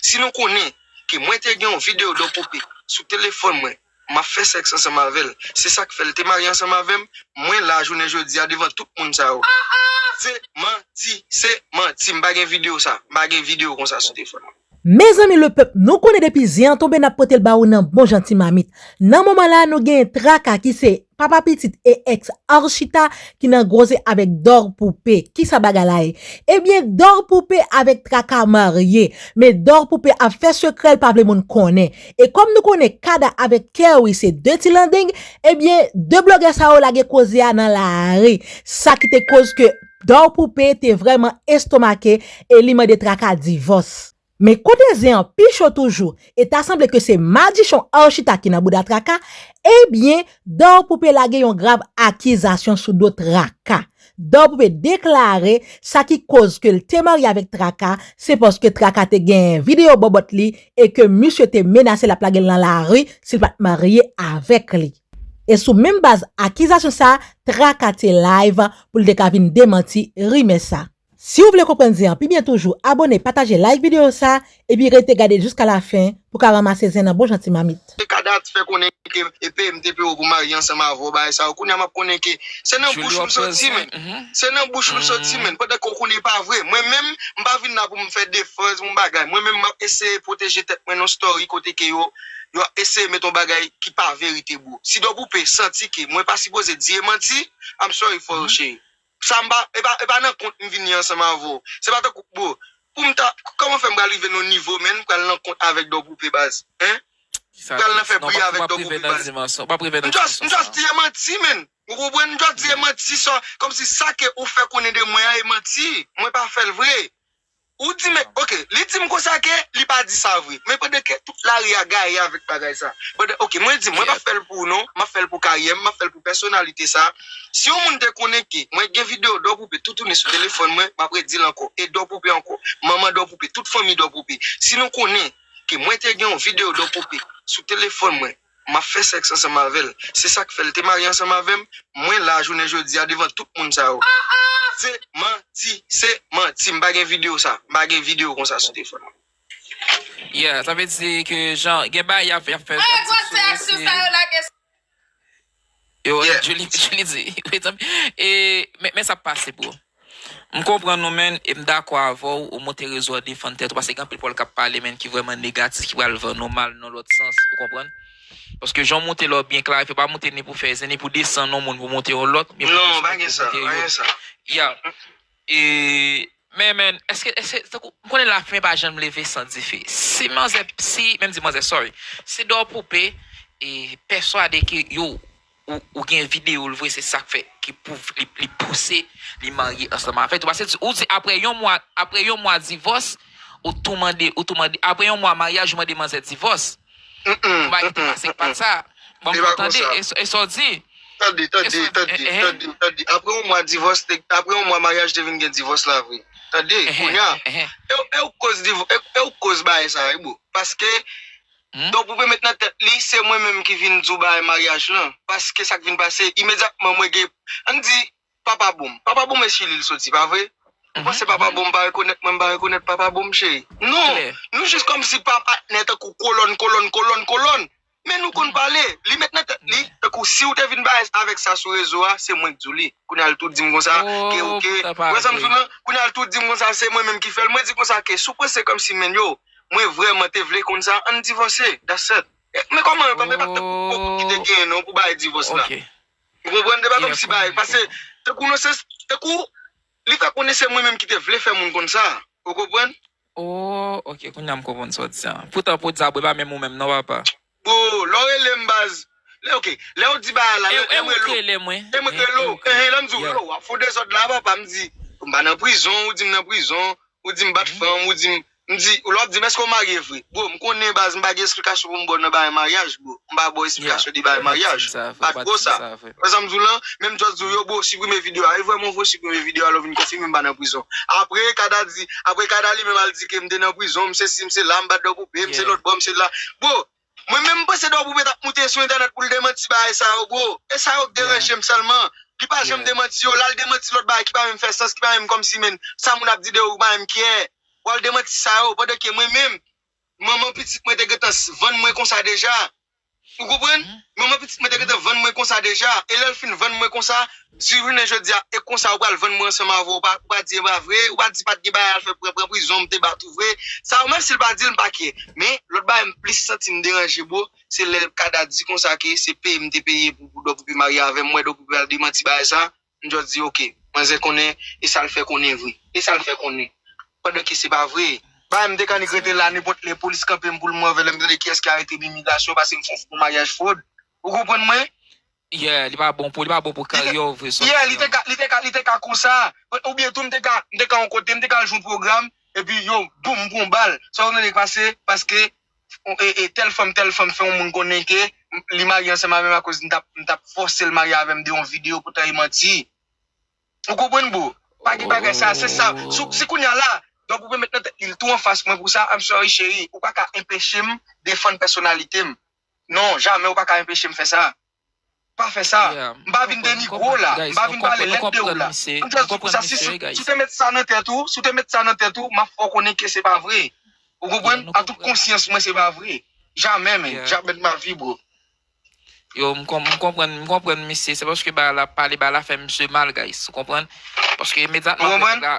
Si nou konnen ke mwen te gen yon video de poupée sou telefòn mwen, map fè sèks ansanm avèl, se sak fèl te marye ansanm avèm, mwen la jounen jodia devan tout moun sa yo. Se manti, se manti, m pa gen video sa, m pa gen video konsa sou telefòn mwen. Mezanmi le pèp nou konnen depi zen an tonbe nap potel ba ou nan bon jan ti mamit nan moman la nou genyen traka ki se Papa pitit e ex Arshita ki nan groze avek Dor Poupe kisa bagay la ye ebyen Dor Poupe avek Traka marye men Dor Poupe ap fè sekrèl pa vle moun konnen e kòm nou konnen Kada avek Kerry se 2 ti landeng ebyen 2 blogè sa yo lage koze a nan lari sa ki te koz ke Dor Poupe te vrèman estomake e li mande Traka divòs. Men kote zen an pi cho toujou e ta sanble ke se madichon Archita ki nan bouda Traka, ebyen Dor Poupe lage yon grav akizasyon sou do Traka. Dor Poupe deklare sa ki koz ke l te marye avèk Traka se paske Traka te genyen videyo bòbòt li e ke misye te menase l ap lage l nan lari si l pa t marye avèk li. E sou menm baz akizasyon sa, Traka te live pou l te ka vin demanti rimè sa. Siw vle konprann zen an pi byen toujou abone pataje like video sa epi rete gadel jiska la fen pou ka ranmase zen nan bon jan ti mamit. Te ka dat fè konnen ke epm te pew pou marye ansanm avèw bagay sa yo kounya map konnen ke se nan bouch ou m soti menn se nan bouch ou m soti menn pandan ke w konnen e pa vre mwen menm m pa vin la pou m fè defans m bagay mwen menm map eseye pwoteje tèt mwen nan story kote ke yo yo ap eseye met yon bagay ki pa verite bro Sidò Poupée santi ke mwen pa sipoze di e manti I'm sorry for you chérie. Sa m pa, e pa, e pa nan kont m vini ansanm avè w. Se pa tankou, bro, pou m ta, kòman fè m pral rive nan yon nivo menn m pral nan kont avèk Dò Poupe baz, hein? M pral nan fè bri avèk Dò Poupe baz. M just, m just di e manti menn. Ou konprann? M just di e manti sa, kòmsi sa ke ou fè konnen de mwen an e manti. Mwen pa fè l vre. Ou di men ok li dim konsa ke li pa di sa vre men pandan ke tout lari a gaye avèk bagay sa pandan ok mwen di mwen pap fèl pou ou non map fèl pou karyèm map fèl pou pèsonalite sa si yon moun te konnen ke mwen gen video dò poupe toutouni sou telefòn mwen map redil ankò e dò poupe ankò manman dò poupe tout fanmi dò poupe si nou konnen ke mwen te gen yon video dò poupe sou telefòn mwen. M ap fè sèks ansanm avè l. Se sa k fè l te marye ansanm avè m. Mwen la a jounen jodi a devan tout moun sa yo. Se manti! Se manti! M pa gen videyo sa. M pa gen videyo konsa sou telefòn mwen. Yeah, sa vle di ke jan gen bagay y ap fè. Mwen gen gwo sè ak sou sa yo lage. Yo ret Julie Julie di wi tanpri e men sa ap pase bro. M konprann ou menn e m dakò avèw ou monte rezo an defann tèt ou paske gen anpil pòl kap pale menn ki vrèman negatif ki pral vann ou mal nan lòt sans ou konprann paske jan w monte la w byen klarifye pa monte ni pou fè zen ni pou desann on moun pou monte on lòt men pou konstwi pou monte yon yeah Men men eske eske tankou m konnen lafimen pa janm leve san dife si manzè si menm di manzè sorry si dò poupe e pèswade ke yo ou ou gen video l vre se sak fè ki pou li li pouse li marye ansanm avèk ou pase ou di aprè yon mwa aprè yon mwa divòs ou tou mande ou tou mande aprè yon mwa maryaj ou mande manzè divòs. Konpayi te pase pat sa. Banm fè w tande e sa w di. Tande, tande, tande, tande, tande. Apre yon mwa divòs, apre yon mwa maryaj te vin gen divòs la vre. Tande, kounya, e ou k koz divòs, e ou k koz bagay sa wi bro. Paske, donk ou vle met nan tèt li se mwen menm ki vin di w bagay maryaj lan. Paske sa k vin pase, imedyatman mwen gen, an n di, Papa boom papa boom esi lil soti pa vre ou panse papa boom pa rekonet mwen mpa rekonet papa boom cheri non nou jis komsi pa patnè tankou kolòn kolòn kolòn kolòn men nou konn pale li met nan tèt li tankou siw te vin bay avèk sa sou rezo a se mwenk diw li kounya li tou dim konsa ke ok ou wè sam fèm la kounya li tou dim konsa se mwen menm ki fèl mwen di konsa ke sou panse komsi men yo mwen vrèman te vle konn sa ann divòse that's et men koman yo pa men pa tankou kite gen non pou bay divòs la. Ou konprann se pa komsi bagay pase tankou non se tankou li fè konnen se mwen menm ki te vle fè moun konn sa ou konprann. Ooh ok kounya m konprann sa w di a poutan pou w di sa bro e pa menm ou menm non papa. Bro lè w rele m baz lè ok lè w di bagay la lè m rele w e mwen rele w ehe lè m di w yo wap fon dezòd la papa m di m pa nan prizon ou di m nan prizon ou di m bat fanm ou di m M di, lè wap dim èske ou marye vre? Bro, m konnen baz m pa gen esplikasyon pou m baw nan bagay maryaj bro. M pa baw esplikasyon de bagay maryaj. Pa tro sa. Wè sa m diw lan? Men m just diw yo bro siprime video a. E vrèman vre ou siprime video a lè ou vin konfime m pa nan prizon. Apre Kada di, apre Kada li menm al di ke m te nan prizon, m se si m se la, m bat dò pou pè, m se lòt bò, m se la. Bro! Mwen menm m panse Dò Poupée tap moute sou entènèt poul demanti bagay sa yo bro, e sa yo k deranjem sèlman, li pa janm demanti yo, lal demanti lòt bagay ki pa menm fè sans, ki pa menm kòmsi menn sa moun ap di de ou pa menm kiyè, wal demanti sa yo, pandan ke mwen menm manman pitit mwen te gentan vann mwen konsa deja, ou konprann, manman pitit mwen te gentan vann mwen konsa deja, e lèl fin vann mwen konsa, Siw jounen jodia e konsa ou pral vann mwen ansanm avèw ou pa di epa vre ou pa di pat gen bagay al fè pran pran prizon mte bat ou vre sa yo menm sil pa dil mpa kyè men lòt bagay m plis santim deranje bro se lè kada di konsa ke se peye mte peye pou doc pou marye avèm mwen doc pral demanti bagay sa m just di ok manzè konnen e sal fè konnen vre e sal fè konnen pandan ke se pa vre. Bagay mte annik rete la nenpòt lè polis kanpem poul move lèm tande kiyès ki arete mimi gasyon pasem fon fo maryaj frod ou konprann mwen Yeah li pa bon pou li pa bon pou karyè w vre Yeah li te ka li te ka li te ka konsa Ou byen tou m te ka m te ka yon kote m te ka al jwenn yon pwogram epi yo boom m pran yon bal Sa konprann sak pase paske e tèl fanm tèl fanm fè yon moun konnen ke li marye ansanm avè m akoz m t ap m t ap fòse l marye avè m de yon videyo poutan e manti Ou konprann bro Pa gen bagay sa se sa Se kounye a la Dòk ou vle met nan tèt li l tou anfas mwen pou sa I'm sorry cheri Ou pa ka enpeche m defann pèsonalite m Non, jamè ou pa ka enpeche m fè sa. Pa fè sa. M pa vin denigre w la. M pa vin pale lèd de w la. M jès di w pou sa si si w te met sa nan tèt ou, si w te met sa nan tèt ou, m ap fè w konnen ke se pa vre. Ou konprann? An tout konsyans mwen se pa vre. Jamè men. Jamè de ma vi bro. Yo, m konprann, m konprann misye. Se paske bagay la pale bagay la fè misye mal guys. Ou konprann? Paske imediatman apre nèg la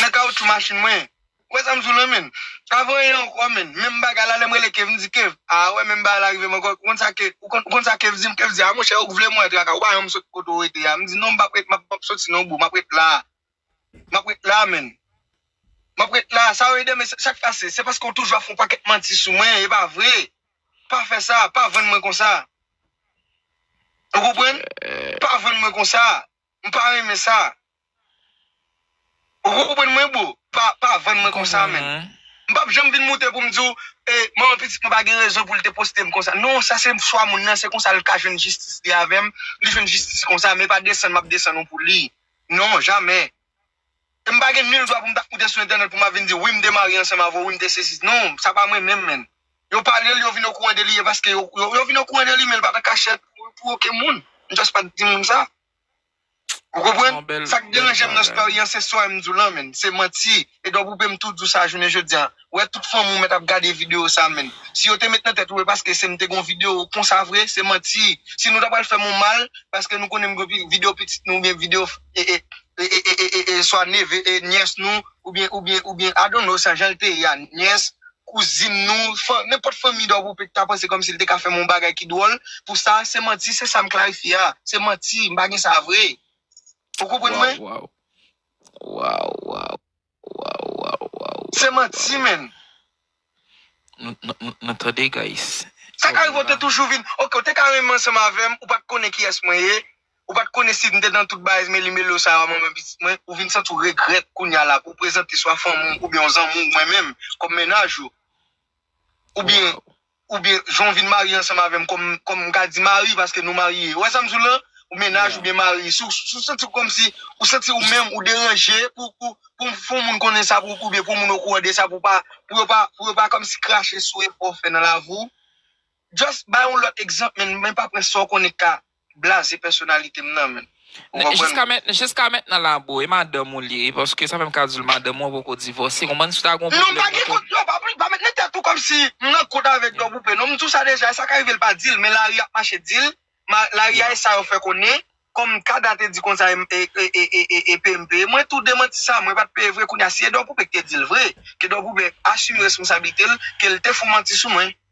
nan kawoutchou machin mwen. Ou wè sa m di w lan menn? Avan anyen ankò menn, menm bagay la lè m rele Kev, m di Kev, a wè menm bagay la rive m ankò, ou konn sa ke, ou konn sa Kev di m, Kev di, a monchè ou k vle m wè traka, ou pa janm m sot kote w rete a, m di non m p ap ret, m ap, m p ap soti non bro, m ap ret la a, m ap ret la a menn, m ap ret la a, sa yo ye de men, sa k pase, se paske w toujou ap fè yon pakèt manti sou mwen, e pa vre, pa fè sa, pa vann mwen konsa, ou konprann, pa vann mwen konsa, M pa renmen sa. Ou poko konprann mwen bro. Pa vann mwen konsa menn. M pap janm vin moute pou m di w e manman pitit mwen pa gen rezon pou l te poste m konsa. Non sa se chwa moun nan se konsa l ka jwenn jistis li avè m. Li jwenn jistis konsa men pa desann m ap desann ou pou li. Non jamè. E m pa gen nul dwa pou m ta koute sou entènèt pou m ap vin di wi m te marye ansanm avè w, wi m te sesi. Non, sa pa mwen menm menn. Yo pale l, yo vin okouran de li e paske yo, yo vin okouran de li men l pa t an kachèt pou oken moun. M just pa t di moun sa. Ou konprann? Sa k deranje m nan story an se sa m di w lan menn, se manti. Edouard Poupée m tou di w sa jounen jodi a. wè tout fanmi w mèt ap gade video sa menn. Si yo te met nan tèt ou e paske se m te gen yon video konsa vre, se manti. Si nou ta pral fè m yon mal paske nou konnen m gen yon video pitit nou oubyen video e swa neve e nyès nou oubyen oubyen oubyen I don't know sa jan l te ye a nyès, kouzin nou, fanm nenpòt fanmi dò pou pete ta panse kòmsi l te ka fè m yon bagay ki dwòl pou sa, se manti se sa m klarifye a. Se manti m pa gen sa vre. Ou konprann mwen? Waww waww waww waww. Waw waw waw waw. Se manti menn. Nou tande guys. Sa ka rive ou te toujou vin ok ou te ka renmen ansanm avèm ou pat konnen kiyès mwen ye ou pat konnen sim te nan tout bagay meli melo sa yo manman pitit mwen ou vin santi ou regrèt kounya la pou prezante swa fanmi ou oubyen yon zanmi ou mwen menm kòm mennaj ou oubyen ou byen jan w vin marye ansanm avè m kòm, kòm m ka di mari paske nou marye. Ou wè sa m di w la? Ou mennaj ou byen mari. Si w santi w kòmsi, ou santi ou menm ou deranje pou, pou, pou m fè yon moun konnen sa pou, ou byen pou yon moun okouran de sa pou w pa, pou yo pa, pou yo pa kòmsi krache sou efò w fè nan lavi w. Just bay yon lòt egzanp men, men pa pran sa w konnen k ka blaze pèsonalite m nan menm. Ou konprann? Jiska mentnan la boo e madanm ou li ye paske sa fèm ka diw madanm ou an poko divòse konprann si w ta gon pwoblèm nan menm non pa gen pa mete nan tèt ou kòmsi m nan kont avèk dò boupe non m diw sa deja e sa ka rive l pa dil men lari ap mache dil lari a e sa yo fè konnen kòm kada te di konsa e peye m peye mwen tou demanti sa mwen pat peye vre kounya si e dò boupe ki te dil vre ke dò boupe asime responsabilite l ke l te fon manti sou mwen.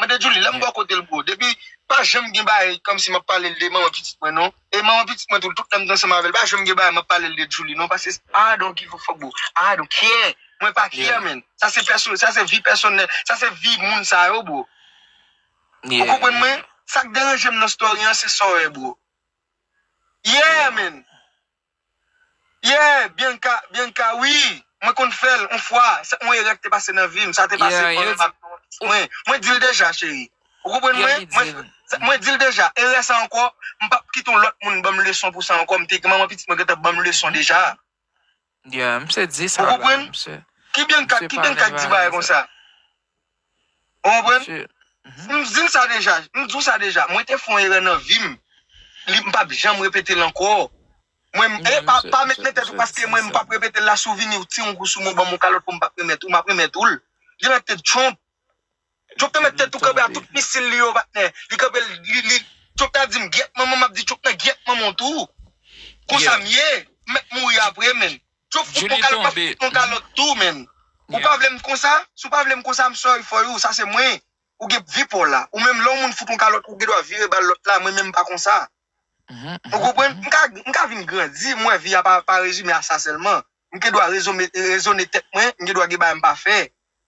Mande Djoulie lèm bò kotel bro depi pa janm gen bagay kòmsi map palel de manman pitit mwen non e manman pitit mwen tou tout lèm t ansanm avèl pa janm gen bagay map palel de Djoulie non paske se I don't give a fuck boo I don't care mwen pa care menn sa se pèsonèl sa se vi pèsonèl sa se vi moun sa yo bro ou konprann mwen sak deranjem nan story an se sò e bro yeah menn. Yeah Bianca Bianca wi mwen konn fèl on fwa se on erè ki te pase nan vim sa te pase Yeah yo di mwen mwen dil deja cheri ou konprann mwen Yeah li dil mwen dil deja erè sa ankò m pap kite on lòt moun banm leson pou sa ankò m te gen manman pitit mwen gentan banm leson deja Yeah misye di sa la misye ou konprann ki Bianca ki Bianca ki di bagay konsa. Ou konprann? M di l sa deja, m di w sa deja, mwen te fè yon erè nan vi m, m p ap janm repete l ankò. Mwen, e pa pa met nan tèt ou paske mwen m p ap repete l la si w vini w tire yon kou sou mwen w ban m yon kalòt pou m pa remèt ou, m ap remèt ou l. Gen nan tèt Trump. Trump te met tèt tou kanpe ak tout misil li yo patnè. Li kanpe l, li, Trump ta di m gyèt manman m, m ap di Trump nan gyèt manman w tou. Konsa m ye, m mèt mouri apre menn. Jop ou poko kalot map fout ou kalot tou menn ou pa vlem konsa si ou pa vlem konsa I'm sorry for you sa se mwen ou gen p vi paw la ou menm lè yon moun fout ou kalot ou gen dwa vire bal lot la mwen menm m pa konsa ou konprann m ka vin grandi m wè vi a pa rezime a sa selman m gen dwa rezone tèt mwen m gen dwa gen bagay m pa fè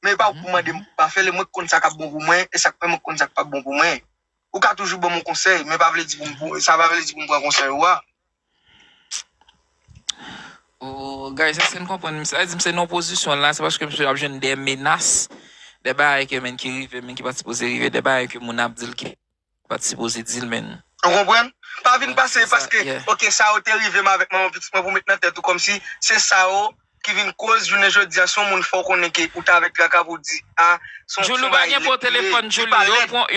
Men epa ou k pou mande m pou m pa fè l e mwen k konn sa k ap bon pou mwen e sa k fè mwen konn sa k pap bon pou mwen. Ou ka toujou ban m yon konsèy men pa vle di pou m sa pa vle di pou m pran konsèy ou a. Ooh guys eske n konprann misye sa di misye nan yon pozisyon la se paske misye ap jwenn de menas de bagay ke menn ki rive menn ki pa sipoze rive de bagay ke moun ap di l ke Ou pat sipoze dil menn. Ou konprann? Pa vin pase paske ok sa yo te rivem avèk manman pitit mwen pou met nan tèt ou kòmsi se sa yo ki vin koz jounen jodia son moun fòw konnen ke ou t avèk traka pou di a son bagay lèd li ye li pa lèd.